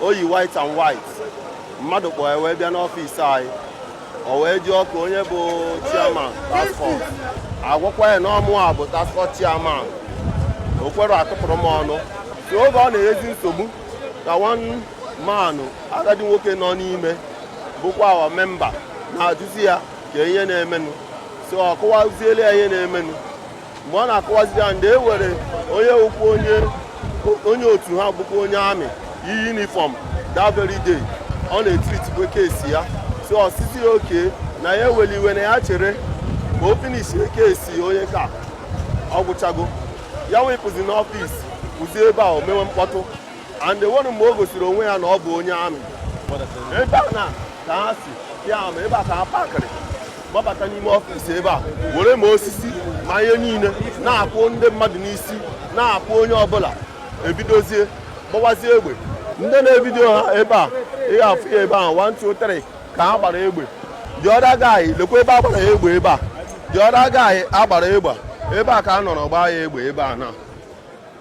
o yi white and white mmadụ kpọọ ya wee bịa n'ọfịs anyị o wee jụọ kee onye bụ chairman task force agwakwa ya na ọ mụwa bụ task force chairman o kwere akụpụrụ m ọnụ so oge ọ na-enyezi nsogbu ka one man agadi nwoke nọ n'ime bụkwa our member na-ajụzi ya kee ihe na-emenụ so ọ kọwaziele ya ihe na-emenụ mgbe ọ na-akọwaziri ya and e nwere onye ọ kpọ onye onye otu ha bụkwa onye amị yi yunifọm that very day ọ na-etiritikwa case ya so ọ sịzị ya okay na ya ewela iwe na ya chere ka o finishie case onye ka ọ gwachago ya wee pụzie n'ọfịs kwụzie ebe a o mewe mkpọtụ and e nwere mgbe o gosiri onwe ya na ọ bụ onye amị ebe a na ka ha si ya ama ebe a ka ha pakịrị gbabata n'ime ọfịs ebe a were ma osisi ma ihe niile na-akụ ndị mmadụ n'isi na-akụ onye ọbụla ebidozie gbawazie egbe ndị na-evidio ha ebe a ị ga-afụ ya ebe ahụ 1 2 3 ka ha gbara egbe the other guy lekwa ebe a gbara ya egbe ebe a the other guy a gbara egbe ebe a ka a nọrọ gbaa ya egbe ebe a na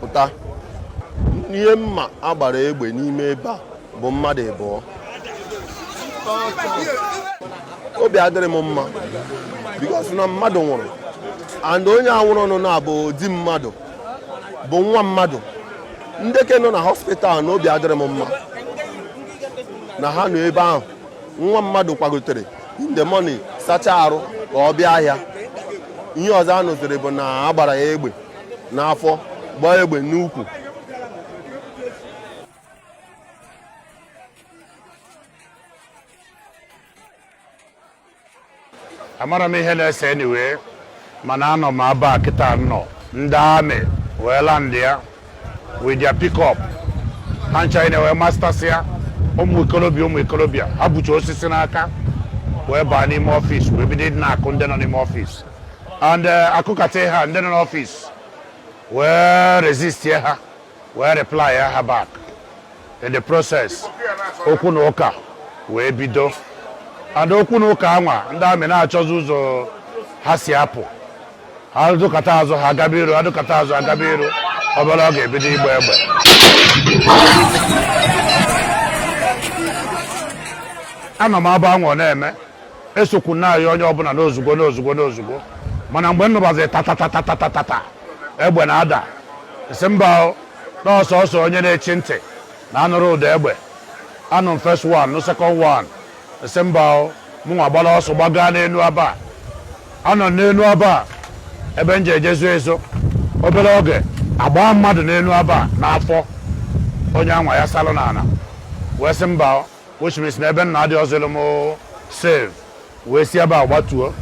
pụta ihe m ma a gbara egbe n'ime ebe a bụ mmadụ ịbụọ obi adịrọ m mma because na mmadụ nwụrụ and onye a nwụrụnụ na bụ di mmadụ bụ nwa mmadụ ndị ke nọ na hospital now obi adịrọ m mma na ha nọ ebe ahụ nwa mmadụ kwagotere in the morning sacha arụ ka ọ bịa ahịa ihe ọzọ a nụziri bụ na a gbara ya egbe n'afọ gbaa ya egbe n'ukwu amarọ m ihe na-ese anyway mana anọ m aba kịta nọ ndị amị wee landịa with their pickup ha ncha na wee masters ya ụmụ ikolobịa ụmụ ikolobịa ha bucha osisi n'aka wee baa n'ime ọfịs wee bido ịdị na-akụ ndị nọ n'ime ọfịs and uh, a kụkata ha ndị nọ n'ọfịs wee resistịa ha wee replyịa ha back in the process okwu na ụka wee bido and okwu na ụka anwa ndị amị na-achọzi ụzọ ha si apụ ha dụkata azụ ha agaba iru ha dụkata azụ agaba iru obere oge e bido ịgba egbe anọ m aba anwa ọ na-eme esokwu na-ayọ onye ọbụla n'ozugbo n'ozugbo n'ozugbo mana mgbe m nụbazi tatatatatata egbe na-ada m sị mba n'ọsọ ọsọ onye na-echi ntị na a nụrụ ụda egbe anụ m first one nụ second one m sị mba mụnwa gbara ọsọ gbaga n'elu aba anọ n'elu aba ebe m ji ejezu ezo obere oge agbaa mmadụ n'elu aba n'afọ onye anwa yasalụ n'ala wee sị mba which means na ebe m nọ adịrọzịrị m safe wee si ebe a gbatuo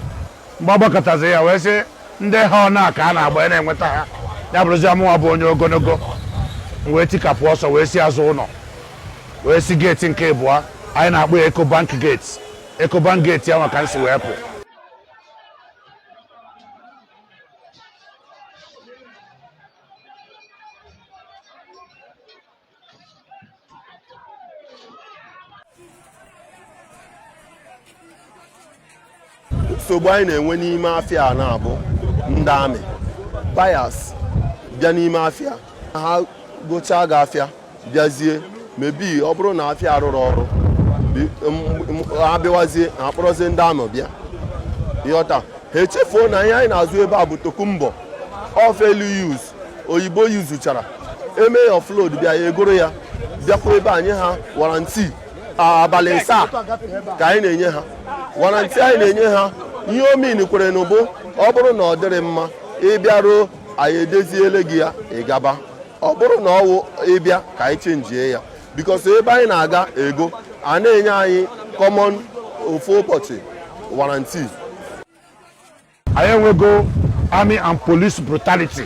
mgbe a gbakatazi ya wee sị ndị ha ọ na-aka a na-agba ya na-enweta ha ya bụrụzia mụwa bụ onye ogologo m wee tikapụ ọsọ wee si azụ ụlọ wee si geeti nke ịbụọ anyị na-akpọ ya Ecobank geeti Ecobank geeti ahụ ka m si wee pụ nsogbu anyị na-enwe n'ime afịa a na-abụ ndị amị buyers bịa n'ime afịa ha gochaa gị afịa bịazie mebi ọ bụrụ na afịa arụrọ ọrụ ha bịawazie ha kpọrọzie ndị amị bịa ị ghọta ha echefuo na ihe anyị na-azụ ebe a bụ tokunbo or fairly use oyibo yuzuchara e mee ya offload bịa ya e goro ya bịakwa ebe anyị ha warranty abalị asaa ka anyị na-enye ha warranty anyị na-enye ha ihe ọ mịnkwara nụ bụ ọ bụrụ na ọ dịrọ mma ị bịaruo anyị edoziele gị ya ị gaba ọ bụrụ na ọ nwụọ ị bịa ka anyị chenjie ya because ebe anyị na-aga ego a na-enye anyị common ofu ụbọchị warranty anyị enwego army and police brutality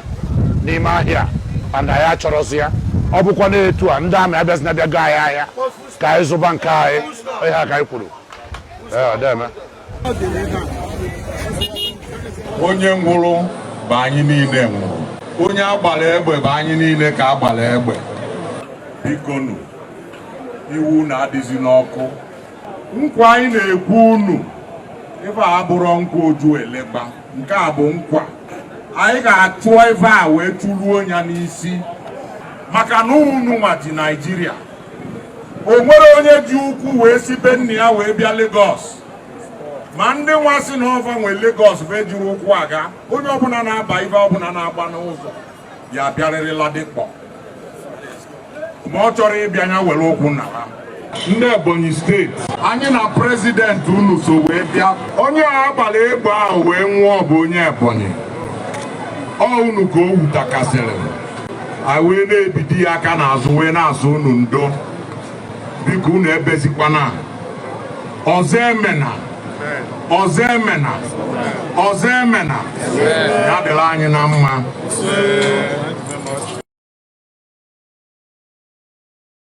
n'ime ahịa and anyị achọrọzi ya ọ bụkwa n'etu a ndị amị abịazina bịa goo anyị ahịa ka anyị zụba nke anyị ihe a ka anyị kwuru Ee, ọ dị eme. onye nwụrụ bụ anyị niile nwụrụ onye a gbara egbe bụ anyị niile ka a gbara egbe bikonu iwe unu adịzina ọkụ nkwa anyị na-ekwe unu ife a abụrọ nkwa Ojuelegba nke a bụ nkwa anyị ga-achụ ife a wee chụruo ya n'isi maka na unu nwa ji Naijiria o nwerọ onye ji ụkwụ wee si be nna ya wee bịa Lagos ma ndị nwa sị na ọ va nwe Lagos va ejirọ ụkwụ aga onye ọbụla na-aba ife ọbụla na-agba n'ụzọ ya bịarịrị Ladipo ma ọ chọrọ ịbịa ya were ụkwụ naa ndị Ebonyi steeti anyị na prezidenti unu so wee bịa onye a gbara egbe ahụ wee nwụọ bụ onye Ebonyi ọ unu ka o wutakasịrị anyị wee na-ebido ya aka n'azụ wee na-asị unu ndo biko unu ebezikwana ọzọ emena ọzọ emena ọzọ emena ya dịrị anyị na mma